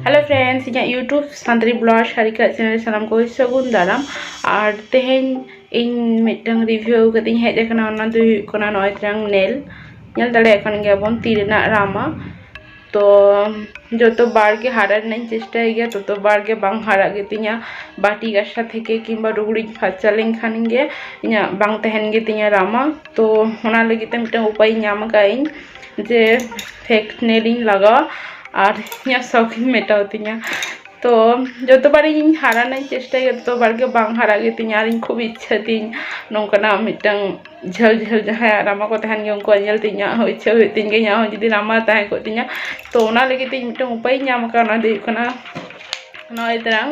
hello friends ᱤᱧᱟᱹᱜ YouTube Santali blog Sarika channel ᱥᱟᱱᱟᱢ ᱠᱚ ᱥᱟᱹᱜᱩᱱ ᱫᱟᱨᱟᱢ ᱟᱨ ᱛᱮᱦᱮᱧ ᱤᱧ ᱢᱤᱫᱴᱟᱝ ᱨᱤᱵᱷᱤᱭᱩ ᱠᱟᱛᱮᱧ ᱦᱮᱡ ᱟᱠᱟᱱᱟ ᱚᱱᱟ ᱫᱚ ᱦᱩᱭᱩᱜ ᱠᱟᱱᱟ ᱱᱚᱜᱼᱚᱭ ᱛᱨᱟᱝ ᱱᱮᱞ ᱧᱮᱞ ᱫᱟᱲᱮᱭᱟᱜ ᱠᱟᱱ ᱜᱮᱭᱟᱵᱚᱱ ᱛᱤ ᱨᱮᱱᱟᱜ ᱨᱟᱢᱟ ᱛᱚ ᱡᱚᱛᱚ ᱵᱟᱨ ᱜᱮ ᱦᱟᱨᱟ ᱨᱮᱱᱟᱜ ᱤᱧ ᱪᱮᱥᱴᱟᱭ ᱜᱮᱭᱟ ᱛᱚᱛᱚ ᱵᱟᱨ ᱜᱮ ᱵᱟᱝ ᱦᱟᱨᱟᱜ ᱜᱮᱛᱤᱧᱟ ᱵᱟᱹᱴᱤ ᱜᱟᱥᱟ ᱛᱷᱮᱠᱮ ᱠᱤᱝᱵᱟ ᱞᱩᱜᱽᱲᱤᱡ ᱯᱷᱟᱨᱪᱟ ᱞᱮᱱᱠᱷᱟᱱ ᱜᱮ ᱤᱧᱟᱹᱜ ᱵᱟᱝ ᱛᱟᱦᱮᱱ ᱜᱮᱛᱤᱧᱟ ᱨᱟᱢᱟ ᱛᱚ ᱚᱱᱟ ᱞᱟᱹᱜᱤᱫ ᱛᱮ ᱢᱤᱫᱴᱟᱝ ᱩᱯᱟᱹᱭ ᱧᱟᱢ ᱟᱠᱟᱫᱟᱹᱧ ᱡᱮ ᱯᱷᱮᱠ ᱱᱮᱞ ᱤᱧ ᱞᱟᱜᱟᱣᱟ ᱟᱨ ᱤᱧᱟᱹᱜ ᱥᱚᱠ ᱤᱧ ᱢᱮᱴᱟᱣ ᱛᱤᱧᱟᱹ ᱛᱚ ᱡᱚᱛᱚ ᱵᱟᱨ ᱤᱧ ᱦᱟᱨᱟ ᱨᱮᱱᱟᱜ ᱤᱧ ᱪᱮᱥᱴᱟᱭᱟ ᱛᱚ ᱵᱟᱨ ᱜᱮ ᱵᱟᱝ ᱦᱟᱨᱟᱜ ᱜᱮᱛᱤᱧᱟ ᱟᱨ ᱤᱧ ᱠᱷᱩᱵ ᱤᱪᱪᱷᱟᱹ ᱛᱤᱧ ᱱᱚᱝᱠᱟᱱᱟᱜ ᱢᱤᱫᱴᱟᱝ ᱡᱷᱟᱹᱞ ᱡᱷᱟᱹᱞ ᱡᱟᱦᱟᱸᱭᱟᱜ ᱨᱟᱢᱟ ᱠᱚ ᱛᱟᱦᱮᱱ ᱜᱮᱭᱟ ᱩᱱᱠᱩᱣᱟᱜ ᱧᱮᱞ ᱛᱮ ᱤᱧᱟᱹᱜ ᱦᱚᱸ ᱤᱪᱪᱷᱟᱹ ᱦᱩᱭᱩᱜ ᱛᱤᱧ ᱜᱮᱭᱟ ᱤᱧᱟᱹᱜ ᱦᱚᱸ ᱡᱩᱫᱤ ᱨᱟᱢᱟ ᱛᱟᱦᱮᱸ ᱠᱚᱜ ᱛᱤᱧᱟᱹ ᱛᱚ ᱚᱱᱟ ᱞᱟᱹᱜᱤᱫ ᱛᱮ ᱤᱧ ᱢᱤᱫᱴᱟᱝ ᱩᱯᱟᱹᱭᱤᱧ ᱧᱟᱢ ᱟᱠᱟᱫᱟ ᱚᱱᱟ ᱫᱚ ᱦᱩᱭᱩᱜ ᱠᱟᱱᱟ ᱱᱚᱜᱼᱚᱭ ᱛᱟᱨᱟᱝ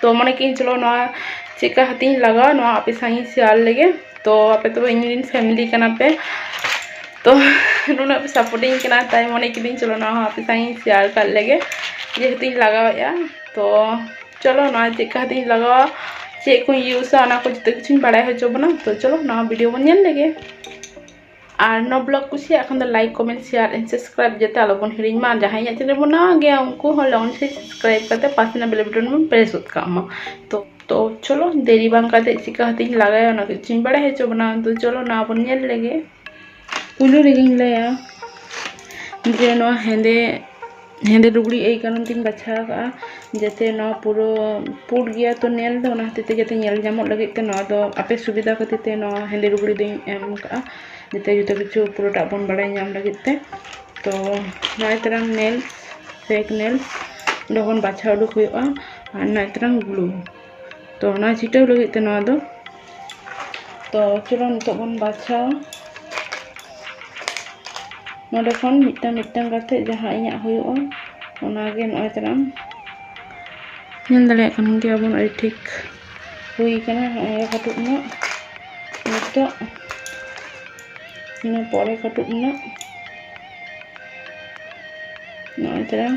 ᱛᱚ ᱢᱚᱱᱮ ᱠᱮᱫᱟᱹᱧ ᱪᱚᱞᱚ ᱱᱚᱣᱟ ᱪᱮᱫᱠᱟ ᱠᱟᱛᱮᱧ ᱞᱟᱜᱟᱣᱟ ᱱᱚᱣᱟ ᱟᱯᱮ ᱥᱟᱶ ᱤᱧ ᱥᱮᱭᱟᱨ ᱞᱮᱜᱮ ᱛᱚ ᱟᱯᱮ ᱫᱚ ᱤᱧ ᱨᱮᱱ ᱯᱷᱮᱢᱤᱞᱤ ᱠᱟᱱᱟ ᱯᱮ ᱛᱚ ᱱᱩᱱᱟᱹᱜ ᱯᱮ ᱥᱟᱯᱳᱨᱴᱤᱧ ᱠᱟᱱᱟ ᱛᱟᱭ ᱢᱚᱱᱮ ᱠᱤᱫᱟᱹᱧ ᱪᱚᱞᱚ ᱱᱚᱣᱟ ᱦᱚᱸ ᱟᱯᱮ ᱥᱟᱶ ᱤᱧ ᱥᱮᱭᱟᱨ ᱠᱟᱜ ᱞᱮᱜᱮ ᱡᱮᱦᱮᱛᱩᱧ ᱞᱟᱜᱟᱣᱮᱫᱼᱟ ᱛᱚ ᱪᱚᱞᱚ ᱱᱚᱣᱟ ᱪᱮᱫᱠᱟ ᱠᱟᱛᱮᱧ ᱞᱟᱜᱟᱣᱟ ᱪᱮᱫ ᱠᱚᱧ ᱤᱭᱩᱥᱟ ᱚᱱᱟ ᱠᱚ ᱡᱚᱛᱚ ᱠᱤᱪᱷᱩᱧ ᱵᱟᱲᱟᱭ ᱦᱚᱪᱚ ᱵᱚᱱᱟ ᱛᱚ ᱪᱚᱞᱚ ᱱᱚᱣᱟ ᱵᱷᱤᱰᱤᱭᱳ ᱵᱚᱱ ᱧᱮᱞ ᱞᱮᱜᱮ ᱟᱨ ᱱᱚᱣᱟ ᱵᱞᱚᱜ ᱠᱩᱥᱤᱭᱟᱜ ᱠᱷᱟᱱ ᱫᱚ like comment share and subscribe ᱡᱟᱛᱮ ᱟᱞᱚᱵᱚᱱ ᱦᱤᱲᱤᱧ ᱢᱟ ᱡᱟᱦᱟᱸᱭ ᱤᱧᱟᱹᱜ ᱪᱮᱱᱮᱞ ᱵᱚᱱ ᱱᱟᱣᱟ ᱜᱮᱭᱟ ᱩᱱᱠᱩ ᱦᱚᱸ ᱞᱚᱜᱚᱱ ᱥᱮ ᱥᱟᱵᱥᱠᱨᱟᱭᱤᱵ ᱠᱟᱛᱮ ᱯᱟᱥᱮ ᱨᱮᱱᱟᱜ ᱵᱮᱞ ᱵᱟᱴᱚᱱ ᱵᱚᱱ ᱯᱨᱮᱥ ᱜᱚᱫ ᱠᱟᱜ ᱢᱟ ᱛᱚ ᱛᱚ ᱪᱚᱞᱚ ᱫᱮᱨᱤ ᱵᱟᱝ ᱠᱟᱛᱮ ᱪᱤᱠᱟ ᱦᱟᱛᱤᱧ ᱞᱟᱜᱟᱭᱟ ᱚᱱᱟ ᱠᱤᱪᱷᱩᱧ ᱵᱟᱲᱟᱭ ᱦᱚᱪᱚ ᱵᱚᱱᱟ ᱛᱚ ᱪᱚᱞᱚ ᱱᱚᱣᱟ ᱵᱚᱱ ᱧᱮᱞ ᱞᱮᱜᱮ ᱯᱩᱭᱞᱩ ᱨᱮᱜᱮᱧ ᱞᱟᱹᱭᱟ ᱡᱮ ᱱᱚᱣᱟ ᱦᱮᱸᱫᱮ ᱦᱮᱸᱫᱮ ᱞᱩᱜᱽᱲᱤᱡ ᱮᱭ ᱠᱟᱨᱚᱱ ᱛᱤᱧ ᱵᱟᱪᱷᱟᱣ ᱟᱠᱟᱫᱼᱟ ᱡᱟᱛᱮ ᱱᱚᱣᱟ ᱯᱩᱨᱟᱹ ᱯᱩᱸᱰ ᱜᱮᱭᱟ ᱛᱚ ᱧᱮᱞ ᱫᱚ ᱚᱱᱟ ᱦᱚᱛᱮᱡ ᱛᱮ ᱡᱟᱛᱮ ᱧᱮᱞ ᱧᱟᱢᱚᱜ ᱞᱟᱹᱜᱤᱫ ᱛᱮ ᱱᱚᱣᱟ ᱫᱚ ᱟᱯᱮ ᱥᱩᱵᱤᱫᱟ ᱠᱷᱟᱹᱛᱤᱨ ᱛᱮ ᱱᱚᱣᱟ ᱦᱮᱸᱫᱮ ᱞᱩᱜᱽᱲᱤᱡ ᱫᱚᱧ ᱮᱢ ᱟᱠᱟᱫᱼᱟ ᱡᱟᱛᱮ ᱡᱚᱛᱚ ᱠᱤᱪᱷᱩ ᱯᱩᱨᱟᱹᱴᱟᱜ ᱵᱚᱱ ᱵᱟᱲᱟᱭ ᱧᱟᱢ ᱞᱟᱹᱜᱤᱫ ᱛᱮ ᱛᱚ ᱱᱚᱜᱼᱚᱭ ᱛᱟᱨᱟᱝ ᱱᱮᱞᱥ ᱯᱷᱮᱠ ᱱᱮᱞᱥ ᱚᱸᱰᱮ ᱠᱷᱚᱱ ᱵᱟᱪᱷᱟᱣ ᱩᱰᱩᱠ ᱦᱩᱭᱩᱜᱼᱟ ᱟᱨ ᱱᱚᱜᱼᱚᱭ ᱛᱟᱨᱟᱝ ᱜᱞᱩ ᱛᱚ ᱚᱱᱟ ᱪᱷᱤᱴᱟᱹᱣ ᱞᱟᱹᱜᱤᱫ ᱛᱮ ᱱᱚᱣᱟ ᱫᱚ ᱛᱚ ᱪᱚᱞᱚ ᱱᱤᱛᱚᱜ ᱵᱚᱱ ᱵᱟᱪᱷᱟᱣᱟ ᱱᱚᱰᱮ ᱠᱷᱚᱱ ᱢᱤᱫᱴᱟᱝ ᱢᱤᱫᱴᱟᱝ ᱠᱟᱛᱮ ᱡᱟᱦᱟᱸ ᱤᱧᱟᱹᱜ ᱦᱩᱭᱩᱜᱼᱟ ᱚᱱᱟᱜᱮ ᱱᱚᱜᱼᱚᱭ ᱛᱟᱞᱟᱝ ᱧᱮᱞ ᱫᱟᱲᱮᱭᱟᱜ ᱠᱟᱱ ᱜᱮᱭᱟᱵᱚᱱ ᱟᱹᱰᱤ ᱴᱷᱤᱠ ᱦᱩᱭ ᱠᱟᱱᱟ ᱱᱚᱜᱼᱚᱭ ᱠᱟᱹᱴᱩᱵ ᱨᱮᱱᱟᱜ ᱱᱤᱛᱚᱜ ᱤᱱᱟᱹ ᱯᱚᱨᱮ ᱠᱟᱹᱴᱩᱵ ᱨᱮᱱᱟᱜ ᱱᱚᱜᱼᱚᱭ ᱛᱟᱞᱟᱝ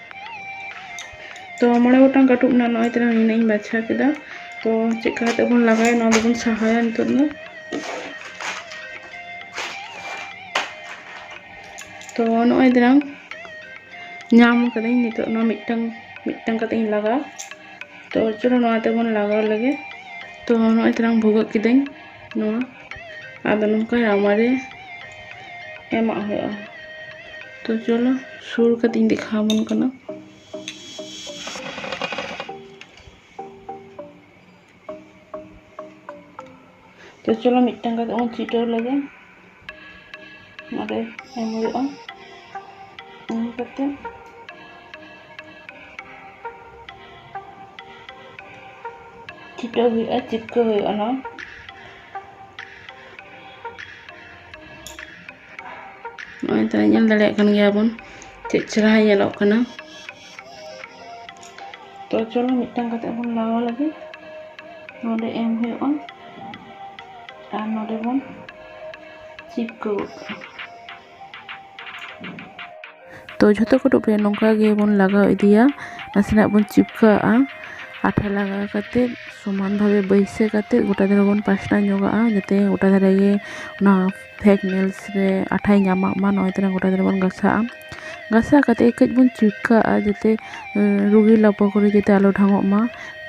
ᱛᱚ ᱢᱚᱬᱮ ᱜᱚᱴᱟᱝ ᱠᱟᱹᱴᱩᱵ ᱨᱮᱱᱟᱜ ᱱᱚᱜᱼᱚᱭ ᱛᱟᱞᱟᱝ ᱱᱤᱱᱟᱹᱜ ᱤᱧ ᱵᱟᱪᱷᱟ ᱠᱮᱫᱟ ᱛᱚ ᱪᱮᱫ ᱞᱮᱠᱟ ᱠᱟᱛᱮ ᱵᱚᱱ ᱞᱟᱜᱟᱭᱟ ᱱᱚᱣᱟ ᱫᱚᱵᱚᱱ ᱥᱟᱦᱟᱭᱟ ᱱᱤᱛᱚᱜ ᱫᱚ ᱛᱚ ᱱᱚᱜᱼᱚᱭ ᱛᱟᱞᱟᱝ ᱧᱟᱢ ᱠᱟᱹᱫᱟᱹᱧ ᱱᱤᱛᱚᱜ ᱱᱚᱣᱟ ᱢᱤᱫᱴᱟᱝ ᱢᱤᱫᱴᱟᱝ ᱠᱟᱛᱮ ᱤᱧ ᱞᱟᱜᱟᱣᱟ ᱛᱚ ᱪᱚᱞᱚ ᱱᱚᱣᱟ ᱛᱮᱵᱚᱱ ᱞᱟᱜᱟᱣ ᱞᱮᱜᱮ ᱛᱚ ᱱᱚᱜᱼᱚᱭ ᱛᱟᱞᱟᱝ ᱵᱷᱩᱜᱟᱹᱜ ᱠᱤᱫᱟᱹᱧ ᱱᱚᱣᱟ ᱟᱫᱚ ᱱᱚᱝᱠᱟ ᱨᱟᱣᱟ ᱨᱮ ᱮᱢᱟᱜ ᱦᱩᱭᱩᱜᱼᱟ ᱛᱚ ᱪᱚᱞᱚ ᱥᱩᱨ ᱠᱟᱛᱮᱧ ᱫᱮᱠᱷᱟᱣ ᱟᱵᱚᱱ ᱠᱟᱱᱟ ᱛᱚ ᱪᱚᱞᱚ ᱢᱤᱫᱴᱟᱝ ᱠᱟᱛᱮ ᱵᱚᱱ ᱪᱷᱤᱴᱟᱹᱣ ᱞᱮᱜᱮ ᱱᱚᱰᱮ ᱮᱢ ᱦᱩᱭᱩᱜᱼᱟ ᱮᱢ ᱠᱟᱛᱮ ᱪᱷᱤᱴᱟᱹᱣ ᱦᱩᱭᱩᱜᱼᱟ ᱪᱤᱯᱠᱟᱹᱣ ᱦᱩᱭᱩᱜᱼᱟ ᱱᱚᱣᱟ ᱱᱚᱜᱼᱚᱭ ᱛᱚ ᱧᱮᱞ ᱫᱟᱲᱮᱭᱟᱜ ᱠᱟᱱ ᱜᱮᱭᱟ ᱵᱚᱱ ᱪᱮᱫ ᱪᱮᱦᱨᱟ ᱧᱮᱞᱚᱜ ᱠᱟᱱᱟ ᱛᱚ ᱪᱚᱞᱚ ᱢᱤᱫᱴᱟᱝ ᱠᱟᱛᱮ ᱵᱚᱱ ᱞᱟᱜᱟᱣ ᱞᱟᱹᱜᱤᱫ ᱱᱚᱰᱮ ᱮᱢ ᱦᱩᱭᱩᱜᱼᱟ ᱟᱨ ᱱᱚᱰᱮ ᱵᱚᱱ ᱪᱤᱯᱠᱟᱹ ᱜᱚᱫ ᱠᱟᱜᱼᱟ ᱛᱚ ᱡᱷᱚᱛᱚ ᱠᱟᱹᱴᱩᱵ ᱨᱮ ᱱᱚᱝᱠᱟ ᱜᱮᱵᱚᱱ ᱞᱟᱜᱟᱣ ᱤᱫᱤᱭᱟ ᱱᱟᱥᱮᱱᱟᱜ ᱵᱚᱱ ᱪᱤᱯᱠᱟᱹᱣᱟᱜᱼᱟ ᱟᱴᱷᱟ ᱞᱟᱜᱟᱣ ᱠᱟᱛᱮᱫ ᱥᱚᱢᱟᱱ ᱵᱷᱟᱵᱮ ᱵᱟᱹᱭᱥᱟᱹᱣ ᱠᱟᱛᱮᱫ ᱜᱚᱴᱟ ᱫᱷᱟᱨᱮ ᱵᱚᱱ ᱯᱟᱥᱱᱟᱣ ᱧᱚᱜᱟᱜᱼᱟ ᱡᱟᱛᱮ ᱜᱚᱴᱟ ᱫᱷᱟᱨᱮ ᱜᱮ ᱚᱱᱟ ᱯᱷᱮᱠ ᱱᱮᱞᱥ ᱨᱮ ᱟᱴᱷᱟᱭ ᱧᱟᱢᱟᱜ ᱢᱟ ᱱᱚᱜᱼᱚᱭ ᱛᱚᱨᱟᱝ ᱜᱚᱴᱟ ᱫᱷᱟᱨᱮ ᱵᱚᱱ ᱜᱷᱟᱥᱟᱣᱟᱜᱼᱟ ᱜᱷᱟᱥᱟᱣ ᱠᱟᱛᱮᱫ ᱠᱟᱹᱡ ᱵᱚᱱ ᱪᱤᱯᱠᱟᱹᱣᱟᱜᱼᱟ ᱡᱟᱛᱮ ᱨᱩᱜᱤ ᱞᱟᱯᱚ ᱠᱚᱨᱮ ᱡᱟᱛᱮ ᱟᱞᱚ ᱰᱷᱟᱝᱚᱜ ᱢᱟ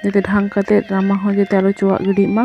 ᱡᱟᱛᱮ ᱰᱷᱟᱝ ᱠᱟᱛᱮᱫ ᱨᱟᱢᱟ ᱦᱚᱸ ᱡᱟᱛᱮ ᱟᱞᱚ ᱪᱚᱣᱟᱜ ᱜᱤᱰᱤᱜ ᱢᱟ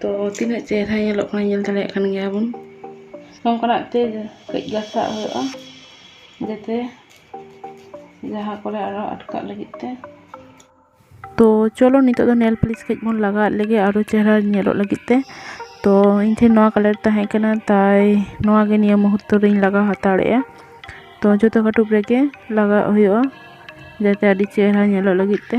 ᱛᱚ ᱛᱤᱱᱟᱹᱜ ᱪᱮᱦᱨᱟ ᱧᱮᱞᱚᱜ ᱠᱟᱱᱟ ᱧᱮᱞ ᱫᱟᱲᱮᱭᱟᱜ ᱠᱟᱱ ᱜᱮᱭᱟ ᱵᱚᱱ ᱱᱚᱝᱠᱟᱱᱟᱜ ᱛᱮ ᱠᱟᱹᱡ ᱜᱷᱟᱥᱟᱣ ᱦᱩᱭᱩᱜᱼᱟ ᱡᱟᱛᱮ ᱡᱟᱦᱟᱸ ᱠᱚᱨᱮ ᱟᱞᱚ ᱟᱴᱠᱟᱜ ᱞᱟᱹᱜᱤᱫ ᱛᱮ ᱛᱚ ᱪᱚᱞᱚ ᱱᱤᱛᱚᱜ ᱫᱚ ᱱᱮᱞ ᱯᱟᱹᱞᱤᱥ ᱠᱟᱹᱡ ᱵᱚᱱ ᱞᱟᱜᱟᱣᱟᱜ ᱞᱮᱜᱮ ᱟᱨᱚ ᱪᱮᱦᱨᱟ ᱧᱮᱞᱚᱜ ᱞᱟᱹᱜᱤᱫ ᱛᱮ ᱛᱚ ᱤᱧ ᱴᱷᱮᱱ ᱱᱚᱣᱟ ᱠᱟᱞᱟᱨ ᱛᱟᱦᱮᱸ ᱠᱟᱱᱟ ᱛᱟᱭ ᱱᱚᱣᱟ ᱜᱮ ᱱᱤᱭᱟᱹ ᱢᱩᱦᱩᱨᱛᱚ ᱨᱤᱧ ᱞᱟᱜᱟᱣ ᱦᱟᱛᱟᱲᱮᱜᱼᱟ ᱛᱚ ᱡᱚᱛᱚ ᱠᱟᱹᱴᱩᱵ ᱨᱮᱜᱮ ᱞᱟᱜᱟᱣᱟᱜ ᱦᱩᱭᱩᱜᱼᱟ ᱡᱟᱛᱮ ᱟᱹᱰᱤ ᱪᱮᱦᱨᱟ ᱧᱮᱞᱚᱜ ᱞᱟᱹᱜᱤᱫ ᱛᱮ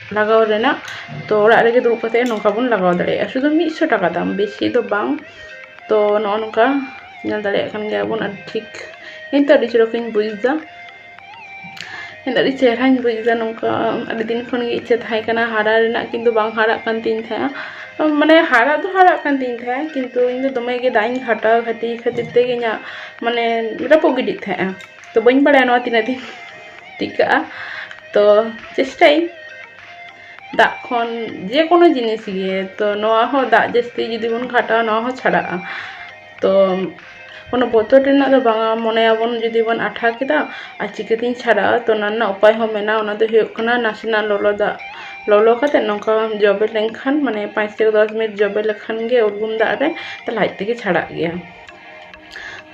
ᱞᱟᱜᱟᱣ ᱨᱮᱱᱟᱜ ᱛᱚ ᱚᱲᱟᱜ ᱨᱮᱜᱮ ᱫᱩᱲᱩᱵ ᱠᱟᱛᱮ ᱱᱚᱝᱠᱟ ᱵᱚᱱ ᱞᱟᱜᱟᱣ ᱫᱟᱲᱮᱭᱟᱜᱼᱟ ᱥᱩᱫᱩ ᱢᱤᱫᱥᱚ ᱴᱟᱠᱟ ᱫᱟᱢ ᱵᱮᱥᱤ ᱫᱚ ᱵᱟᱝ ᱛᱚ ᱱᱚᱜᱼᱚ ᱱᱚᱝᱠᱟ ᱧᱮᱞ ᱫᱟᱲᱮᱭᱟᱜ ᱠᱟᱱ ᱜᱮᱭᱟ ᱵᱚᱱ ᱟᱹᱰᱤ ᱴᱷᱤᱠ ᱤᱧ ᱛᱚ ᱟᱹᱰᱤ ᱪᱚᱨᱚᱠ ᱤᱧ ᱵᱩᱡᱫᱟ ᱤᱧ ᱫᱚ ᱟᱹᱰᱤ ᱪᱮᱦᱨᱟᱧ ᱵᱩᱡᱫᱟ ᱱᱚᱝᱠᱟ ᱟᱹᱰᱤ ᱫᱤᱱ ᱠᱷᱚᱱ ᱜᱮ ᱤᱪᱪᱷᱟᱹ ᱛᱟᱦᱮᱸ ᱠᱟᱱᱟ ᱦᱟᱨᱟ ᱨᱮᱱᱟᱜ ᱠᱤᱱᱛᱩ ᱵᱟᱝ ᱦᱟᱨᱟᱜ ᱠᱟᱱ ᱛᱤᱧ ᱛᱟᱦᱮᱸᱜᱼᱟ ᱢᱟᱱᱮ ᱦᱟᱨᱟ ᱫᱚ ᱦᱟᱨᱟᱜ ᱠᱟᱱ ᱛᱤᱧ ᱛᱟᱦᱮᱸᱜᱼᱟ ᱠᱤᱱᱛᱩ ᱤᱧ ᱫᱚ ᱫᱚᱢᱮ ᱜᱮ ᱫᱟᱜ ᱤᱧ ᱜᱷᱟᱴᱟᱣ ᱠᱷᱟᱹᱛᱤᱨ ᱛᱮᱜᱮ ᱤᱧᱟᱹᱜ ᱢᱟᱱᱮ ᱨᱟᱹᱯᱩᱫ ᱜᱤᱰᱤᱜ ᱛᱟᱦᱮᱸᱜᱼᱟ ᱛᱚ ᱵᱟᱹᱧ ᱵᱟᱲᱟᱭᱟ ᱱᱚᱣᱟ ᱛᱤᱱᱟᱹᱜ ᱫᱤᱱ ᱴᱤᱠᱟᱹᱜᱼᱟ ᱛᱚ ᱪᱮᱥᱴᱟᱭᱟᱹᱧ ᱫᱟᱜ ᱠᱷᱚᱱ ᱡᱮ ᱠᱳᱱᱳ ᱡᱤᱱᱤᱥ ᱜᱮ ᱛᱚ ᱱᱚᱣᱟ ᱦᱚᱸ ᱫᱟᱜ ᱡᱟᱹᱥᱛᱤ ᱡᱩᱫᱤ ᱵᱚᱱ ᱜᱷᱟᱴᱟᱣᱟ ᱱᱚᱣᱟ ᱦᱚᱸ ᱪᱷᱟᱲᱟᱜᱼᱟ ᱛᱚ ᱠᱳᱱᱳ ᱵᱚᱛᱚᱨ ᱨᱮᱱᱟᱜ ᱫᱚ ᱵᱟᱝᱟ ᱢᱚᱱᱮᱭᱟᱵᱚᱱ ᱡᱩᱫᱤ ᱵᱚᱱ ᱟᱴᱷᱟ ᱠᱮᱫᱟ ᱟᱨ ᱪᱤᱠᱟᱹᱛᱤᱧ ᱪᱷᱟᱲᱟᱜᱼᱟ ᱛᱚ ᱚᱱᱟ ᱨᱮᱱᱟᱜ ᱩᱯᱟᱭ ᱦᱚᱸ ᱢᱮᱱᱟᱜᱼᱟ ᱚᱱᱟ ᱫᱚ ᱦᱩᱭᱩᱜ ᱠᱟᱱᱟ ᱱᱟᱥᱮᱱᱟᱜ ᱞᱚᱞᱚ ᱫᱟᱜ ᱞᱚᱞᱚ ᱠᱟᱛᱮ ᱱᱚᱝᱠᱟ ᱵᱟᱢ ᱡᱚᱵᱮ ᱞᱮᱱᱠᱷᱟᱱ ᱢᱟᱱᱮ ᱯᱟᱸᱪ ᱛᱷᱮᱠᱮ ᱫᱚᱥ ᱢᱤᱱᱤᱴ ᱡᱚᱵᱮ ᱞᱮᱠᱷᱟᱱ ᱜᱮ ᱩᱨᱜᱩᱢ ᱫᱟᱜ ᱨᱮ ᱛᱟᱦᱚᱞᱮ ᱟᱡ ᱛᱮᱜᱮ ᱪᱷᱟᱲᱟᱜ ᱜᱮᱭᱟ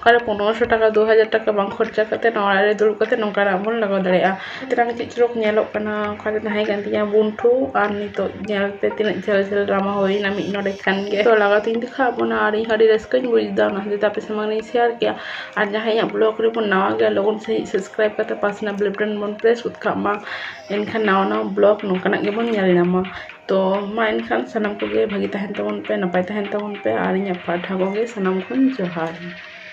ᱚᱠᱟᱨᱮ ᱯᱚᱱᱮᱨᱚᱥᱚ ᱴᱟᱠᱟ ᱫᱩ ᱦᱟᱡᱟᱨ ᱴᱟᱠᱟ ᱵᱟᱝ ᱠᱷᱚᱨᱪᱟ ᱠᱟᱛᱮ ᱱᱚᱣᱟ ᱚᱲᱟᱜ ᱨᱮ ᱫᱩᱲᱩᱵ ᱠᱟᱛᱮ ᱱᱚᱝᱠᱟᱱᱟᱜ ᱵᱚᱱ ᱞᱟᱜᱟᱣ ᱫᱟᱲᱮᱭᱟᱜᱼᱟ ᱱᱤᱛᱚᱜ ᱪᱮᱫ ᱪᱚᱨᱚᱠ ᱧᱮᱞᱚᱜ ᱠᱟᱱᱟ ᱚᱠᱟᱨᱮ ᱛᱟᱦᱮᱸ ᱠᱟᱱ ᱛᱤᱧᱟᱹ ᱵᱩᱱᱴᱷᱩ ᱟᱨ ᱱᱤᱛᱚᱜ ᱧᱮᱞ ᱯᱮ ᱛᱤᱱᱟᱹᱜ ᱡᱷᱟᱹᱞ ᱡᱷᱟᱹᱞ ᱰᱨᱟᱢᱟ ᱦᱩᱭᱮᱱᱟ ᱢᱤᱫ ᱰᱚᱸᱰᱮᱠ ᱠᱷᱟᱱ ᱜᱮ ᱛᱚ ᱞᱟᱜᱟᱣ ᱛᱤᱧ ᱫᱮᱠᱷᱟᱣ ᱟᱫ ᱵᱚᱱᱟ ᱟᱨ ᱤᱧ ᱦᱚᱸ ᱟᱹᱰᱤ ᱨᱟᱹᱥᱠᱟᱹᱧ ᱵᱩᱡᱫᱟ ᱚᱱᱟ ᱠᱷᱟᱹᱛᱤᱨ ᱛᱮ ᱟᱯᱮ ᱥᱟᱢᱟᱝ ᱨᱤᱧ ᱥᱮᱭᱟᱨ ᱠᱮᱫᱼᱟ ᱟᱨ ᱡᱟᱦᱟᱸᱭ ᱤᱧᱟᱹᱜ ᱵᱞᱚᱜᱽ ᱨᱮᱵᱚᱱ ᱱᱟᱣᱟ ᱜᱮᱭᱟ ᱞᱚᱜᱚᱱ ᱥᱟᱺᱦᱤᱡ ᱥᱟᱵᱥᱠᱨᱟᱭᱤᱵᱽ ᱠᱟᱛᱮ ᱯᱟᱥᱮ ᱨᱮᱱᱟᱜ ᱵᱮᱞ ᱵᱟᱴᱚᱱ ᱵᱚᱱ ᱯᱨᱮᱥ ᱜᱚᱫ ᱠᱟᱜ ᱢᱟ ᱮᱱᱠᱷᱟᱱ ᱱᱟᱣᱟ ᱱᱟᱣᱟ ᱵᱞᱚᱜᱽ ᱱᱚᱝᱠᱟᱱᱟᱜ ᱜᱮᱵᱚᱱ ᱧᱮᱞ ᱧᱟᱢᱟ ᱛᱚ ᱢᱟ ᱮᱱᱠᱷᱟᱱ ᱥᱟᱱᱟᱢ ᱠᱚᱜᱮ ᱵᱷᱟᱹᱜᱤ ᱛᱟᱦᱮᱱ ᱛᱟᱵᱚᱱ ᱯᱮ ᱱᱟᱯᱟᱭ ᱛᱟᱦᱮᱱ ᱛᱟᱵᱚᱱ ᱯᱮ ᱟᱨ ᱤᱧᱟᱹᱜ ᱯᱟᱦᱴᱟ ᱠᱷᱚᱱ ᱜᱮ ᱥᱟᱱᱟᱢ ᱠᱚᱧ ᱡᱚᱦᱟᱨ